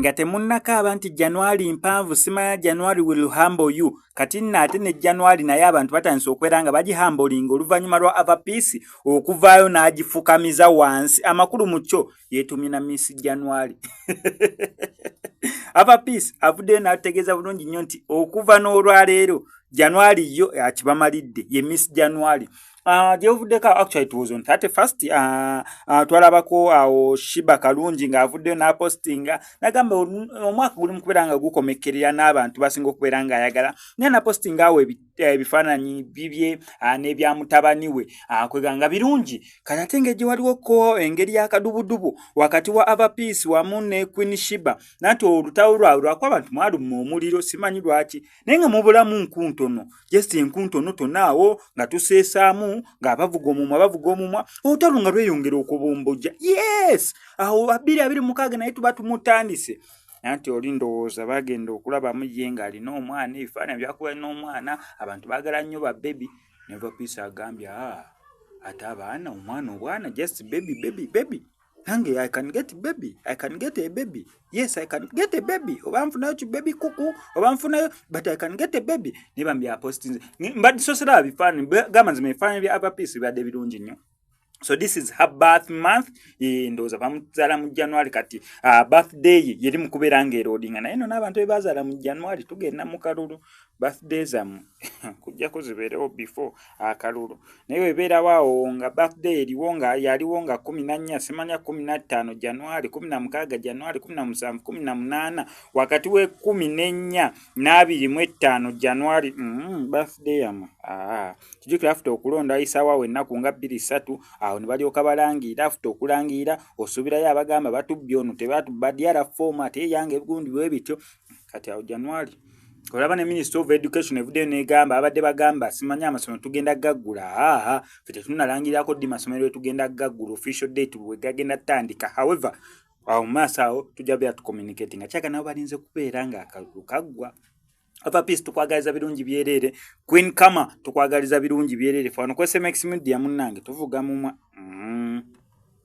nga temunnakaaba nti januari mpanvu simanya januari will humble you kati nno ate ne januari naye abantu batandise okubeera nga bagihambolinga oluvannyuma lwa avapiisi okuvaayo n'agifukamiza wansi amakulu mu kyo yeetumye na miss january ava peace avuddeyo n'ategeeza bulungi nnyo nti okuva n'olwaleero january yo akibamalidde ye miss january Ah, gyebuvuddeko actually it was on 31st uh, ah, uh, ah, twalabako awo shiba kalungi ng'avuddeyo n'apostinga nagamba omwaka guli mu kubeera nga gukomekkerera n'abantu basinga okubeera ng'ayagala naye napostinga awo eh, ebifaananyi bibye ah, n'ebya mutabani we ah, kwega nga birungi kati ate nga egiwaliwo ko engeri yakadubudubu wakati wa ava peace wamu ne queen shiba nanti olutawo lwawe lwaku abantu mwaluma omuliro simanyi lwaki naye nga mubulamu nkuntono just enkuntono tonaawo nga tuseesaamu ngaabavuga omumwa bavuga omumwa olutalo nga lweyongera okubumbujja yes awo abiri abiri mukaaga naye tuba tumutandise nanti oli ndowooza bagenda okulabamu ye nga alina omwana ebifaananyi byakuba alina omwana abantu bagala nnyo ba bebi neva piisa agambye a ah, ate abaana omwana obwana just bebi bebi bebi nange i can get bebi i can get a bebi yes i can get a bebi oba nfunayo ki bebi kuku oba nfunayo but i can get a bebi naye bambi apostinze mbadisosera bifaananyi gamba nzima ebifaananyi bya ava piisi bibadde birungi nnyo so this is her birth month ndowooza bamuzaala mu january kati uh, birthday ye yeri mukubeera nga erodinga naye no n'abantu bebazaala mu january tugenda mu kalulu birthday zamu kujjako zibeerewo before akalulu uh, naye webeerawaawo nga birthday eriwo nga yaliwo nga kumi na nnya simanya kumi na ttaano january kumi na mukaaga january kumi na musanvu kumi na munaana wakati w'ekumi n'ennya n'abiri mu ettaano january mm, birthday yamwe ah, kijukira afuta okulonda ayisaawawo ennaku nga bbiri ssatu awo ne balyoka balangiira afuta okulangiira osuubirayo abagamba batubbi ono tebatubba dyara foomu ate eyanga ebigundi bwe bityo kati awo january olaba ne minister of education evuddeyo negamba abadde bagamba simanyi amasomero tugenda gaggula aa fe tetunalangirako ddi masomero etugenda gaggula official date bwe gagenda tutandika however awo mu maaso awo tujja beera tucommunicati nga kyaga nabo balinze kubeera ng'akalulu kaggwa ava peace tukwagaliza birungi byereere queen kama tukwagaliza birungi byereere fano kwesmx media munnange tuvuga mumwa mm.